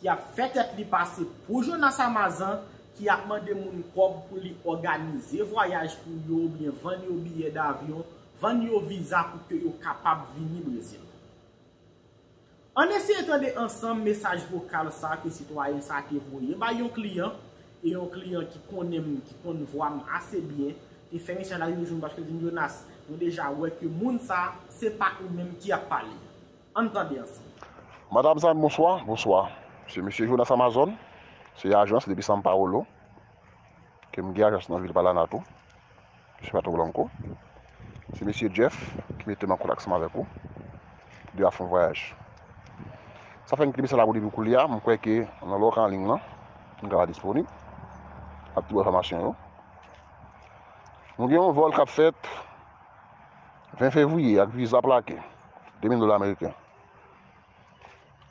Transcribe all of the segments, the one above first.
ki ap fè tèt li pase pou Jonas Amazan, ki ap mande moun kòb pou li òganize vwayaj pou yo oubyen vann yo biyè davyon, vann yo viza pou ke yo kapab vini Brezil. Ann eseye tande ansanm mesaj vokal sa ke sitwayen sa te voye bay yon kliyan, e yon kliyan ki konnen m, ki konn vwa m ase byen, te fè mesaj la rive jwenn m paske l di m, Jonas, mwen deja wè ke moun sa, se pa ou menm ki ap pale. Ann tande ansanm. Madam Zan bonswa. Bonswa. Se Mesye Jonas Amazon. Se yon ajans depi San Paolo. Ke m gen ajans nan vil Palana tou. Mesye Pato Blanco. Se Mesye Jeff ki mete m an kontak ansanm avèk ou. Pou de ap fè yon vwayaj. Sa fè m kite mesaj la pou depi koulye a. M kwè ke nan lè w ka an ling lan. M ka pa disponib. Ak tout enfòmasyon yo. Nou gen yon vòl k ap fèt. 20 fevriye ak viza plake 2000 dola ameriken.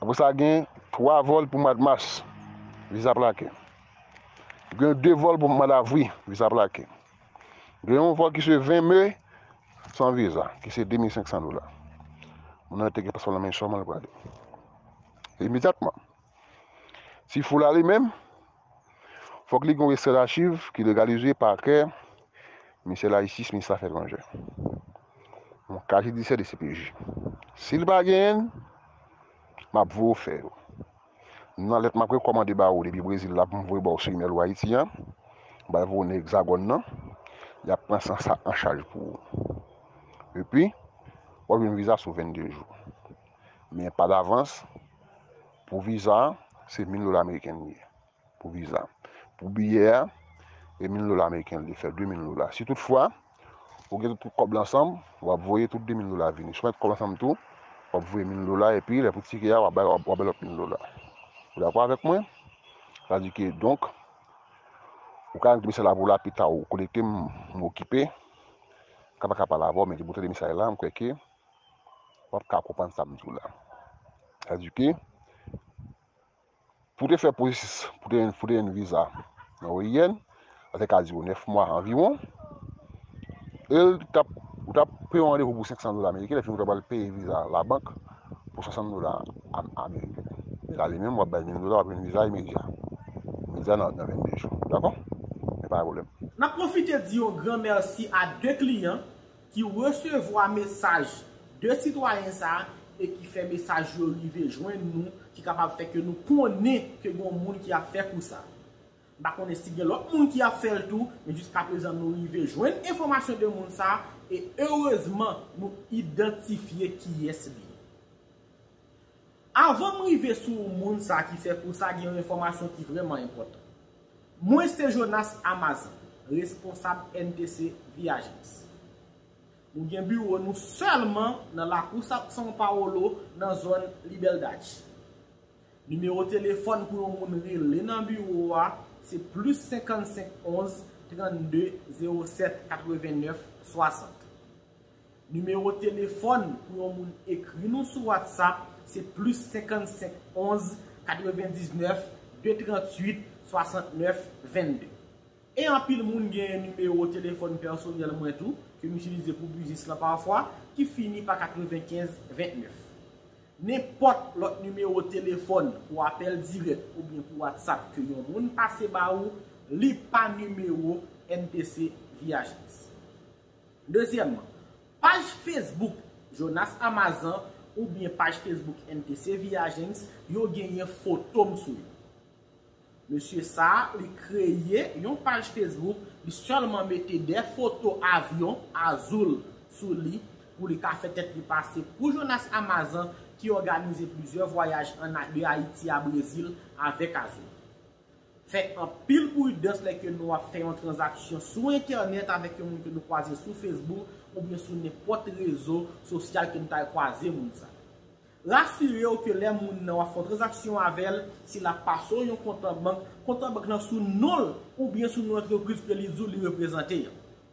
Apre sa gen 3 vòl pou mwad mas, viza plake. Gen 2 vòl pou mwad avri, viza plake. Gen yon vòl ki se 20 me san viza ki se 2500 dola. Moun nan te gen paspo nan men sèlman li prale. Imedyatman. Ti foula li menm Fòk li gen yon ekstrè dachiv ki legalize pakè Ministè la Jistis, Minis Afè Etranjè. Yon kat jidisyè dcpj. Si li pa genyen l, m ap voye w fè yo. Nan lèt m ap rekòmande ba ou depi Brezil la pou m voye ba w sou imèl ou Ayiti an, m pral voye w nan Egzagòn nan, y ap pran sa an chaj pou ou. Epi, w ap jwenn viza sou 22 jou. Men pa davans, pou viza, se mil dola meriken li ye. Pou viza. Pou biyè a, e mil dola meriken li ye, fè de mil dola. Si tout fwa, ou gen tout kòb la ansanm, w ap voye tout de mil dola a vini. Si w met kòb la ansanm tou, w ap voye mil dola, epi lè pou tike a, w ap bay, w ap bay lòt mil dola. Ou dakò avèk mwen? Sa di ke, donk, ou ka rete mesaj la pou la pita ou konekte m, m okipe. Ka pa ka pa la avè w, men depi ou tande mesaj la, m kwè ke. wap ka konprann sa m di w la. Sa di ke pou w te fè pwosesis pou w te jwenn viza nan OIN, sa te ka dire w 9 mwa anviwon, e l t ap, ou t ap pran yon randevou pou 500 dola ameriken, epi ou t ap al peye viza a labank pou 60 dola ameriken. Men la li menm, wap bay 1000 dola, wap jwenn viza imedya. Imedya nan 22 jou. Dakò? Men pa gen pwoblèm. N ap pwofite di yon gran mèsi a 2 kliyan ki resevwa mesaj 2 sitwayen sa e ki fè mesaj yo rive jwenn nou ki kapab fè ke nou konnen ke gon moun ki ap fè kou sa. M pa konnen si gen lòt moun ki ap fè l tou, men jiska prezan nou rive jwenn enfòmasyon de moun sa e erezman nou idantifye kiyès li ye. Avan m rive sou moun sa ki fè kou sa gen yon enfòmasyon ki vrèman enpòtan. Mwen se Jonas Amazan, responsab NTC Viagence. Nou gen biwo nou sèlman nan lakou São Paulo nan zòn Liberdade. Nimewo telefòn pou yon moun rele nan biwo a se plis 55 11 32 07 89 60. Nimewo telefòn pou yon moun ekri nou sou WhatsApp se plis 55 11 99 238 69 22. E anpil moun genyen nimewo telefòn pèsonèl mwen tou ke m itilize pou biznis lan pafwa ki fini pa 95 29. Nenpòt lòt nimewo telefòn pou apèl dirèk oubyen pou WhatsApp ke yon moun pase ba ou li pa nimewo MPC Viagence. Dezyèmman, paj Facebook Jonas Amazan oubyen paj Facebook MTC Viagents yo genyen foto m sou yo. Mesye sa a, li kreye yon paj Facebook, li sèlman mete de foto avyon Azul sou li pou li ka fè tèt li pase pou Jonas Amazan ki òganize plizyè vwayaj an de Ayiti a Brezil avèk Azul. Fè anpil pridans lè ke nou ap fè yon tranzaksyon sou entènèt avèk yon moun ke nou kwaze sou Facebook oubyen sou nenpòt rezo sosyal ke nou ta al kwaze moun sa. Rasire w ke lè moun nan w ap fè yon tranzaksyon avè l, si l ap pase w yon kontan bank, kontan bank lan sou non l oubyen sou non antrepriz ke li di w li reprezante an.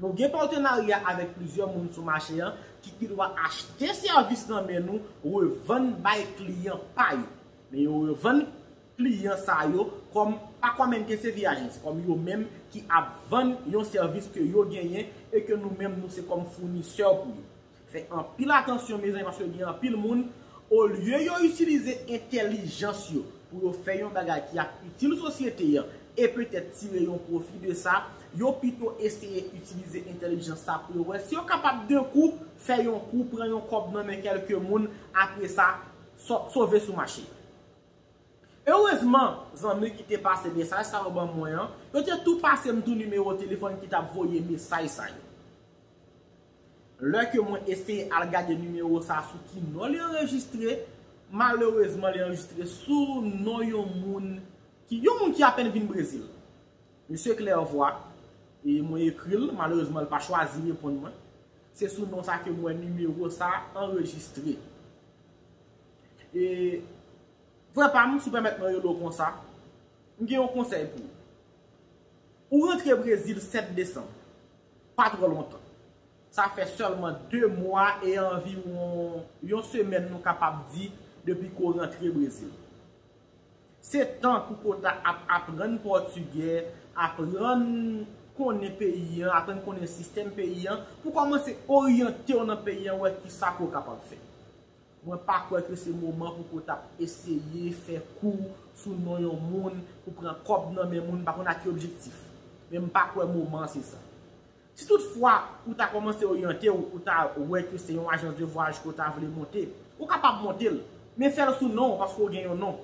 Nou gen patenarya avèk plizyè moun sou mache an ki gendwa achte sèvis nan men nou revann bay kliyan pa yo. Men yo revann kliyan sa yo kòm pa kòm NKCV agents, kòm yo menm ki ap vann yon sèvis ke yo genyen e ke nou menm nou se kòm founisè pou yo. Fè anpil atansyon mezanmi paske gen anpil moun olye yo itilize entèlijans yo pou yo fè yon bagay ki ap itil sosyete an e petèt tire yon pwofi de sa, yo pito eseye itilize entèlijans sa pou yo wè si yo kapab de kou fè yon kou, pran yon kòb nan men kèlke moun apre sa sove sou mache. Erezman, zanmi ki te pase mesaj sa yo ban mwen an, yo te tou pase m tou nimewo telefòn ki t ap voye mesaj sa yo. Lè ke mwen eseye al gade nimewo sa sou ki non li anrejistre, malerezman li anrejistre sou non yon moun ki, yon moun ki apèn vin Brezil. Misye Clairvoix, e mwen ekri l, malerezman li pa chwazi reponn mwen, se sou non sa ke m wè nimewo sa anrejistre. E, frè pa m, si w pèmèt mwen rele w konsa, m gen yon konsèy pou ou. Ou rantre Brezil 7 desanm. Pa twò lontan. Sa fè sèlman 2 mwa e anviwon yon semèn nou kapab di depi Ko rantre Brezil. Se tan pou Ko ta ap aprann pòtigè, aprann konnen peyi an, aprann konnen sistèm peyi an, pou kòmanse oryante'w nan peyi an wè kisa Ko kapab fè. Mwen pa kwè ke se moman pou ke w tap eseye fè kou sou non yon moun pou pran kòb nan men moun m pa konn ak ki objektif. Men m pa kwè moman an se sa. Si tout fwa ou ta kòmanse oryante w, ou ta wè ke se yon ajans de vwayaj ke w ta vle monte, ou kapab monte l, men fè l sou non w paske w gen yon non.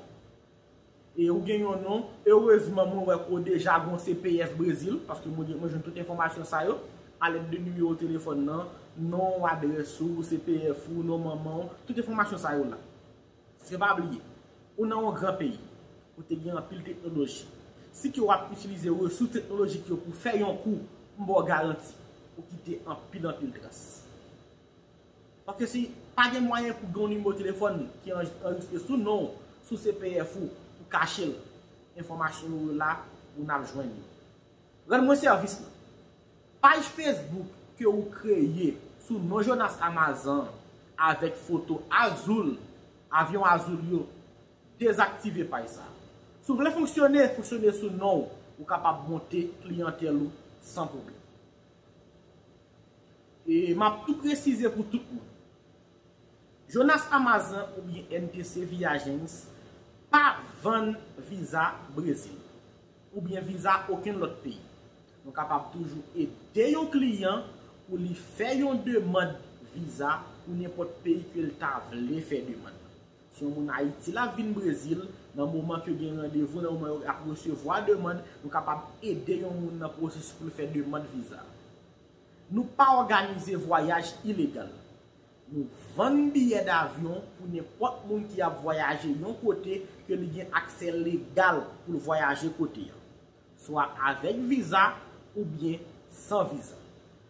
E ou gen yon non, erezman mwen wè ke w deja gon CPS Brezil, paske mwen jwenn tout enfòmasyon sa yo, alèd de nimewo telefòn nan, non w, adrès ou, CPF ou, non manman w, tout enfòmasyon sa yo la. Paske pa bliye, ou nan yon gran peyi, kote gen anpil teknoloji. Si ke w ap itilize resous teknolojik yo pou fè yon kou, m ba w garanti, ou kite anpil anpil tras. Paske si pa gen mwayen pou gen yon nimewo telefòn ki anrejistre sou non w, sou CPF ou, pou kache l, enfòmasyon yo yo la pou n al jwenn yo. Rann mwen sèvis lan. Paj Facebook ke ou kreye sou non Jonas Amazan an avèk foto Azul, avyon Azul yo, dezaktive paj sa. Si w vle fonksyone, fonksyone sou non w, ou kapab monte kliyantèl ou san pwoblèm. E map tou presize pou tout moun. Jonas Amazan oubyen MPC Viagens pa vann viza Brezil. Oubyen viza okenn lòt peyi. Nou kapab toujou ede yon kliyan pou li fè yon demand viza pou nenpòt peyi ke l ta vle fè demand nan. Si yon moun Ayiti la vin Brezil, nan moman ke gen randevou, nan moman yo ap resevwa demand, nou kapab ede yon moun nan pwosesis pou l fè demand viza. Nou pa òganize vwayaj ilegal. Nou vann biyè davyon pou nenpòt moun ki ap vwayaje yon kote ke li gen aksè legal pou l vwayaje kote a, swa avèk viza oubyen san viza.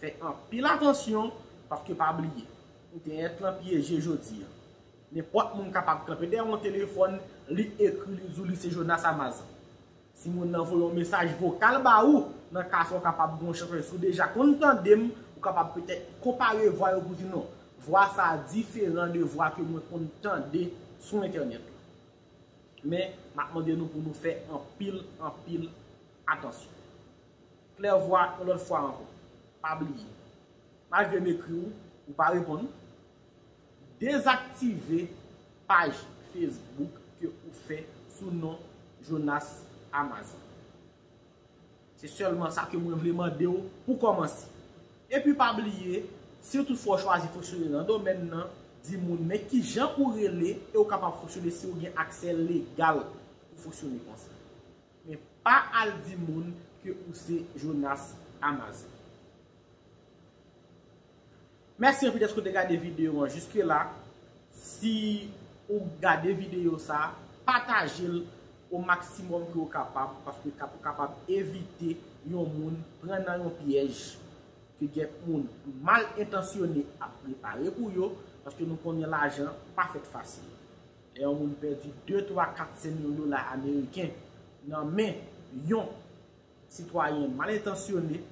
Fè anpil atansyon paske pa bliye entèyèt lan pyeje jodi an. Nenpòt moun kapab kanpe dèyè yon telefòn li ekri li di w li se Jonas Amazan. Si moun nan voye yon mesaj vokal ba ou, nan ka sa w kapab gen yon chans paske si w deja konn tande m, ou kapab petèt konpare vwa yo pou di non, vwa sa a diferan de vwa ke mwen konn tande sou entènèt lan. Men, m ap mande nou pou nou fè anpil, anpil atansyon. Klèvwa yon lòt fwa ankò, pa bliye, malgre m ekri w, ou pa reponn, dezaktive paj Facebook ke ou fè sou non Jonas Amazan. Se sèlman sa ke mwen vle mande w pou kòmanse. Epi pa bliye, si w toutfwa w chwazi fonksyone nan domèn nan, di moun men kijan ou rele e ou kapab fonksyone si ou gen aksè legal pou fonksyone konsa. Men pa al di moun ke ou se Jonas Amazing. Mèsi anpil dèske ou te gade videyo an jiske la. Si ou gade videyo sa, pataje l o maksimòm ke ou kapab paske ka pou kapab evite yon moun pran nan yon pyèj ke kèk moun mal entansyone ap prepare pou yo paske nou konnen lajan pa fèt fasil. Lè yon moun pèdi de, twa, kat sen yon dola ameriken nan men yon sitwayen mal entansyone,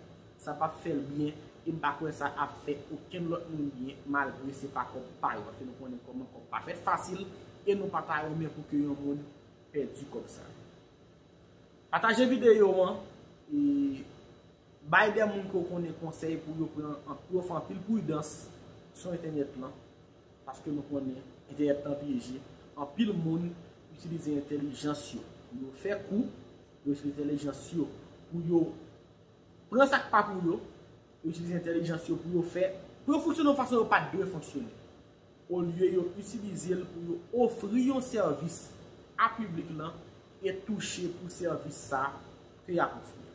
sa pap fè l byen e m pa kwè sa ap fè okenn lòt moun byen malgre se pa kòb pa yo paske nou konnen kòman kòb pa fèt fasil e nou pa ta renmen pou ke yon moun pèdi kòb sa. Pataje videyo an e bay de moun ke w konnen konsèy pou yo pran anpil pridans sou entènèt lan. Paske nou konnen entènèt lan pyeje, anpil moun itilize entèlijans yo pou yo fè kou, yo itilize entèlijans yo pou yo pran sa k pa pou yo, yo itilize entèlijans yo pou yo fè, pou yo fonksyone yon fason yo pa t dwe fonksyone, olye yo itilize l pou yo ofri yon sèvis a piblik lan e touche pou sèvis sa ke y ap ofri a.